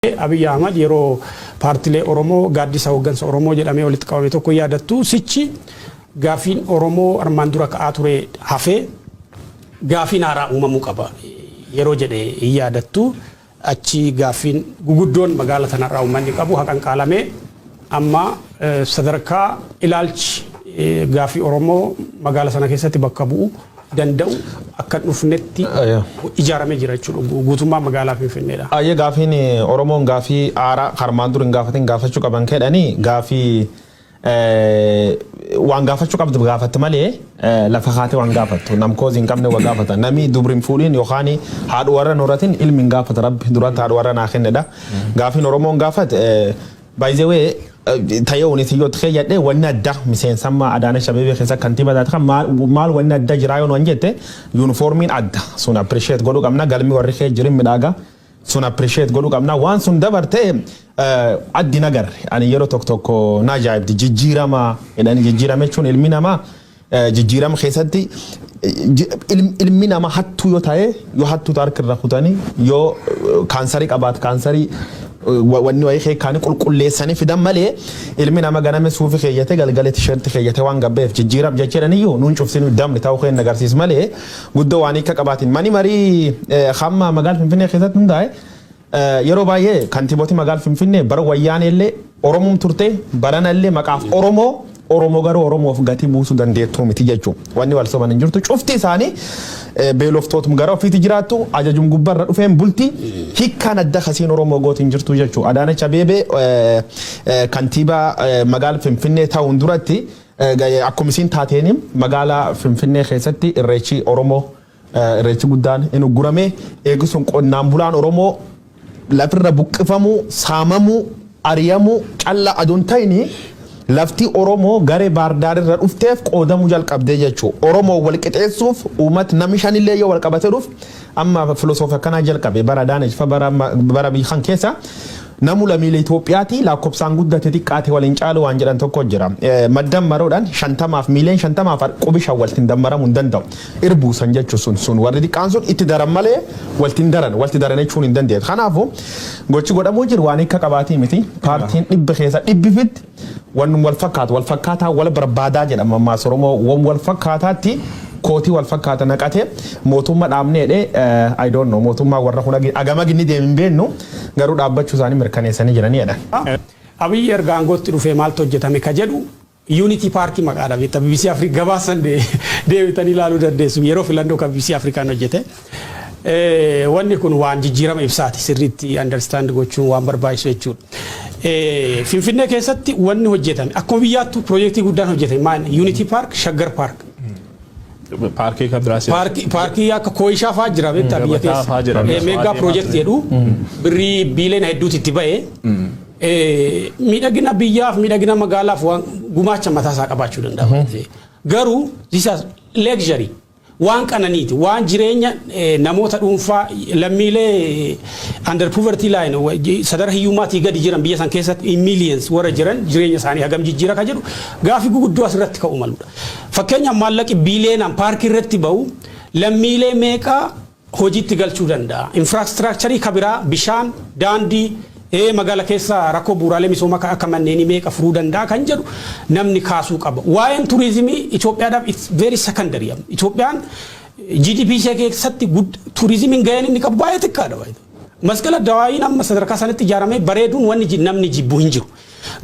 Abiy Ahmad yeroo paartilee Oromoo gaaddisa hooggansa Oromoo jedhamee walitti qabame tokko hin yaadattuu? Sichi gaaffiin Oromoo armaan dura ka'aa ture hafee gaaffiin haaraa uumamuu qaba yeroo jedhe hin yaadattuu? Achi gaaffiin guguddoon magaala tanarraa uummanni qabu haqanqaalamee amma sadarkaa ilaalchi gaaffii Oromoo magaala sana keessatti bakka bu'u danda'u akka hin dhufnetti Ayaa. ijaaramee jira jechuudha. Gu- Guutummaa magaalaa Finfinneedha. Ayyee gaafiin eh, Oromoon gaafii aaraa karmaan dur hin gaafatin gaafachuu qaban kedhanii gaafii eh, waan gaafachuu qabdu gaafatti malee eh, lafa kaatee waan gaafattu namkoos hin qabne waa gaafata namni dubri hin fuudhin yookaan haadhu warra nuratin ilmi hin gaafata rabbi duratti haadhu warra naa kennedha gaafiin Oromoon gaafat eh, By the way tayee wani si yoo tkee jadhe wani adda miseensamma adaana shabebe kessa kantiba taate kan maal maal wani adda jiraa yoo nuan jette uniformin adda sun appreciate godhu qabna galmi warri kee jirin midhaaga sun appreciate godhu qabna waan sun dabarte addi nagarre ani yeroo tokko tokko na ajaa'ibdi jijjiirama jedhani jijjiirama jechuun ilmi namaa Jijjiirama keessatti ilmi nama hattuu yoo ta'e yoo hattuu ta'e harka irra kutanii yoo kaansarii qabaate kaansarii wanni wayii keekkaanii qulqulleessanii fidan malee ilmi nama ganame suufi keeyyate galgala tisheerti keeyyate waan gabbeef jijjiiram jecheedhan iyyuu nuun cufsinu damni ta'uu keen agarsiis malee guddoo waan hiika qabaatiin mani marii hamma magaal finfinnee keessatti hundaa'e Yeroo baay'ee kantiiboti magaal Finfinnee bara wayyaanee illee Oromoom turte barana illee maqaaf Oromoo Oromoo garuu Oromoof gatii buusuu dandeettuu miti jechuu wanni wal soban hin jirtu cufti isaanii beeloftootum gara ofiiti jiraattu ajajum gubbarra dhufeen bulti hikkaan adda kasiin Oromoo gooti hin jirtu jechuu Adaanach Abeebee kantiibaa magaal Finfinnee ta'uun duratti akkuma isiin taateen magaalaa Finfinnee keessatti irreechi Oromoo Irreechi guddaan hin uggurame. Eegi sun qonnaan bulaan Oromoo lafirra buqqifamuu, saamamuu, ariyamuu calla adu hin ta'ini lafti Oromoo gare Baardaar irra dhufteef qoodamuu jalqabde jechu. Oromoo wal qixeessuuf uumat nami shanillee yoo wal qabate dhuf amma filosoofi akkanaa jalqabe bara Adaanech fa bara bara biyy kan keessa Namu lamiile Itoophiyaati laakkobsaan guddate xiqqaate wal hin caalu waan jedhan tokko jira. Maddammaroodhan shantamaaf miiliyan shantamaaf qubi shan waltin dammaramu hin danda'u. Irbuu san jechu sun sun warri xiqqaan sun itti daran malee walti hin daran walti daran jechuun hin dandeetu. Kanaafu gochi godhamuu jiru waan hikka qabaati miti. Paartiin dhibbi keessa dhibbi fitti Wan wal fakkaatu wal fakkaataa wal barbaadaa jedha mammaasa Oromoo wan wal fakkaataatti kootii wal fakkaata naqate mootumma dhaabnee dhe I don't know mootummaa warra kun agama ginni deem hin beennu garuu dhaabbachuu isaanii mirkaneessanii jiranii jedha. Abiy erga aangootti dhufee maaltu hojjetame ka jedhu Unity Park maqaa dha beekta bbc Africa gabaasa san deebitanii ilaaluu dandeessu yeroo filannoo ka bbc African hojjete. Wanni kun waan jijjiirama ibsaati sirriitti understand gochuun waan barbaachisu jechuudha. Finfinnee keessatti wanni hojjetame akkuma biyyaattuu piroojeektii guddaan hojjetame maal Unity Park, Shaggar Park. Paarkii kan biraas. Paarkii paarkii akka Kooyishaa fa'aa jira beektaa biyya Gabataa keessa. fa'aa jira. Eh, Meegaa piroojeektii jedhu birrii biiliyoona hedduutu itti ba'e. Eh, Miidhagina biyyaaf miidhagina magaalaaf waan gumaacha mataa isaa qabaachuu danda'a. Garuu this is luxury. Waan qananiiti, waan jireenya namoota dhuunfaa lammiilee under poverty line sadarka hiyyummaatii gadi jiran biyya san keessatti in millions warra jiran jireenya isaanii hagam jijjiira ka jedhu gaaffii guguddoo asirratti ka'uu maludha. Fakkeenyaaf maallaqi biiliyeenaan paarkii irratti ba'u lammiilee meeqa hojiitti galchuu danda'a. Infraastiraakcharii ka biraa bishaan, daandii, ee magaala keessa rakkoo bu'uuraalee misoomaa ka akka manneenii meeqa furuu danda'a kan jedhu namni kaasuu qaba. Waa'een turizimii Itoophiyaadhaaf it's very secondary. Itoophiyaan GDP ishee keessatti turizimiin gaheen inni qabu baay'ee xiqqaadha. Masqala Dawaayiin amma sadarkaa sanatti ijaaramee bareeduun wanni namni jibbu hin jiru.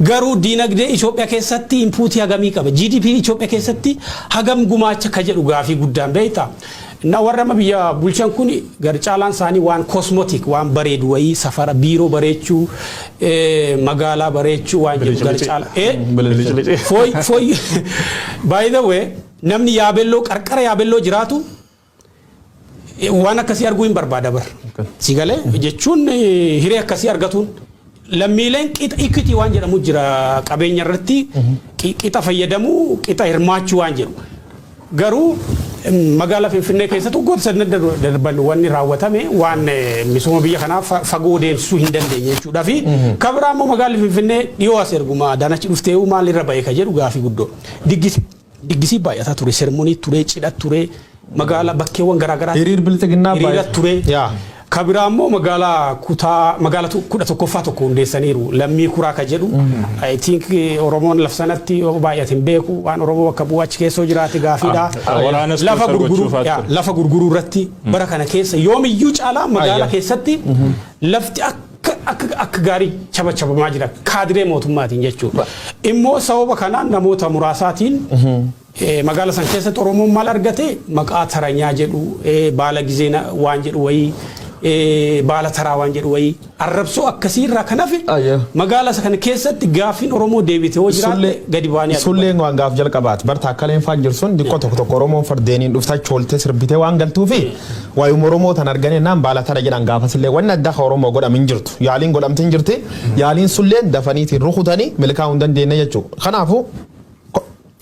Garuu diinagdee Itoophiya keessatti inpuutii hagamii qaba? GDP Itoophiya keessatti hagam gumaacha ka jedhu gaafii guddaan beektaa? Na warra amma biyya bulchan kun gar caalaan isaanii waan cosmetic waan bareedu wayii safara biiroo bareechuu magaalaa bareechuu waan jedhu gar caalaa fooy fooy by the way namni yaabelloo qarqara yaabelloo jiraatu Waan akkasii arguu hin barbaada bar. Si galee jechuun hiree akkasii argatuun lammiileen qixa ikitii waan jedhamu jira qabeenya irratti qixa fayyadamuu qixa hirmaachuu waan jedhu. Garuu magaalaa Finfinnee keessatti waggoota sadna darban wanni raawwatame waan misooma biyya kanaa fagoo deemsisuu hin dandeenye jechuudha fi kabiraa immoo magaalli Finfinnee dhiyoo as erguma daanachi dhuftee maalirra ba'e ka jedhu gaafii guddoo diggise. Diggisii baay'ataa ture, sermonii ture, cidha ture, magaala bakkeewwan garaa garaa Hiriir bilxiginnaa hiriira baay'ee. ture. Yaa. Ka biraa immoo magaalaa kutaa magaala tu- kudha tokkoffaa tokko hundeessaniiru. Lammii kuraa ka jedhu. I think eh, Oromoon laf sanatti yoo baay'ate hin beeku. Waan Oromoo bakka bu'u achi keessoo jiraate gaafiidha. Ah, waraana sponsor Lafa gurguruu gochuuf haa yaa, ture. lafa gurguruu irratti bara kana keessa yoomiyyuu caalaa magaala Ayya. keessatti lafti akka akka gaarii chabachabamaa jira kaadiree mootummaatiin jechuudha. Immoo sababa kanaan namoota muraasaatiin magaala san keessatti Oromoon maal argate maqaa taranyaa jedhu baala gizee waan jedhu wayii baala taraa waan jedhu wayii arrabsoo akkasii irraa kan hafe magaala kana keessatti gaaffiin Oromoo deebite hoo jiraatte gadi baanii Sulleen waan gaaf jalqabaati barta akka leenfaan jirsun diqqoo tokko tokko Oromoon fardeeniin dhuftaa choolte sirbitee waan galtuufi Waayuma Oromoo tan argan ennaan baala tara jedhan gaafasillee wanni addaa ka Oromoof godhame hin jirtu. Yaaliin godhamte hin jirti. Yaaliin sunilleen dafaniitiin rukutanii milkaa'uu hin dandeenne jechuu. Kanaafu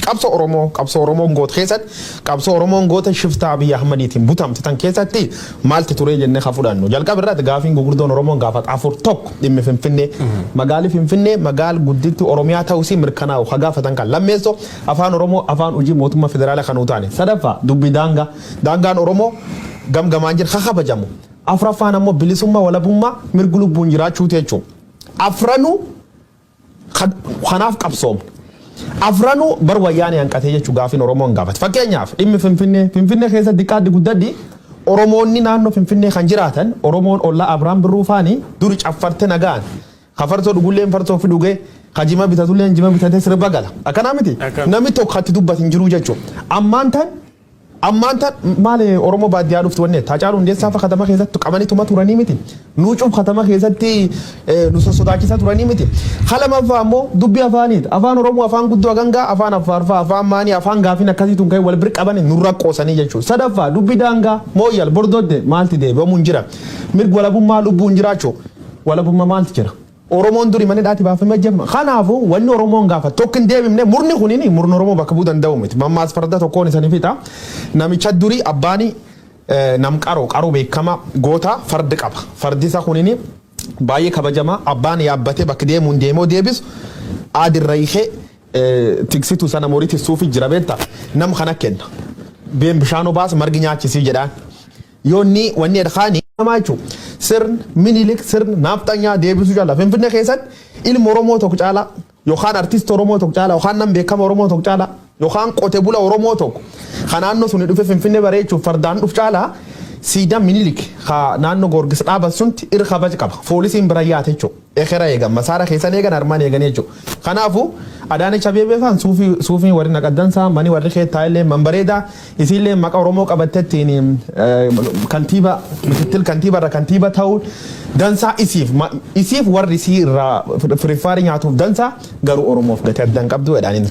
qabsoo Oromoo qabsoo Oromoon goote keessatti qabsoo Oromoon goote shiftaa Abiy Ahmadiitiin butamte tan keessatti maaltu turee jennee ka fudhannu. Jalqaba irratti gaafiin gugurdoon Oromoon gaafatu afur tokko dhimmi Finfinnee. Magaali Finfinnee magaal guddittii Oromiyaa ta'uu isii mirkanaa'u ka gaafatan kan. Lammeessoo afaan Oromoo afaan hujii mootummaa federaalaa kan nuu taane. Sadaffaa dubbii daangaa. Daangaan Oromoo gam gamaan jiru ha kabajamu. Afraffaan ammoo bilisummaa, walabummaa, mirgi lubbuun jiraachuuti jechuun. Afranuu kanaaf qabsoomne. Afranuu bar wayyaanee hanqatee jechuun gaafiin Oromoon gaafate. Fakkeenyaaf dhimmi Finfinnee, Finfinnee keessa diqqaaddi guddaddi Oromoonni naannoo Finfinnee kan jiraatan Oromoon ollaa Abrahaam Birruu faani duri caffarte nagaan. Ka farsoo dhugulleen farsoo fi dhugee, ka jima bitatulleen jima bitatee sirba gala. Akkanaa miti? Namni tokko kan itti dubbatu hin jiru jechuudha. Ammaan tan Ammaan tan maali oromoo baaddiyaa dhuftu wanni jette Hacaaluu Hundeessaa fa katama keessatti qabanii tuma turanii miti nuu cuf katama keessatti nu sossodaachisaa turanii miti ka lamaffaa ammoo dubbii afaaniit afaan oromoo afaan guddoo agangaa afaan affaar fa afaan maanii afaan gaafiin akkasii tun ka'e wal bir qabanii nurra qoosanii jechuu sadaffaa dubbii daangaa mooyyal bordodde maalti deebi'amuun jira mirg walabummaa lubbuun jiraachuu walabummaa maalti jira. Oromoon duri mana hidhaati baafame ajjefama. Kanaafu wanni Oromoon gaafatu tokko hin deebimne murni kunini murna Oromoo bakka buu danda'u miti. Mammaas farda tokkoon isani fixa. Namicha duri abbaani nam qaro, qaro beekama, goota fard qaba. Fardi isa kunini baay'ee kabajama. Abbaan yaabbate bakka deemuun deemo deebisu aad irra hikee tiksitu sana mori tissuufi jira beekta. Nam kana kenna. Deem bishaan obaas margi nyaachisi jedhaan. Yoonni wanni edkaani namaa jechu sirn minilik sirn naafxanyaa deebisuu caalaa finfinne keessatti ilma oromoo tokko caalaa yookaan artist oromoo tokko caalaa yookaan nam beekama oromoo tokko caalaa yookaan qote bula oromoo tokko kan naannoo suni dhufe finfinne bareechuuf fardaan dhuf caalaa siidaa minilik ka naannoo goorgis dhaaban sunti irra kabaj qaba foolisiin bira yaate jechuudha. Ekera eegan, masaara keessan eegan, armaan eegan jechu. Kanaafu, Adaanech Abeebee faan suufii, suufiin warri naqaddan saa, mani warri keet taa illeen man bareeda, isiin illeen maqa Oromoo qabatte ittiin kantiiba, mikittil kantiiba irra kantiiba ta'uun dansaa isiif, ma, isiif warri isii irraa firiffaarii nyaatuuf dansaa, garuu Oromoof gati adda hin qabdu jedhaan inni.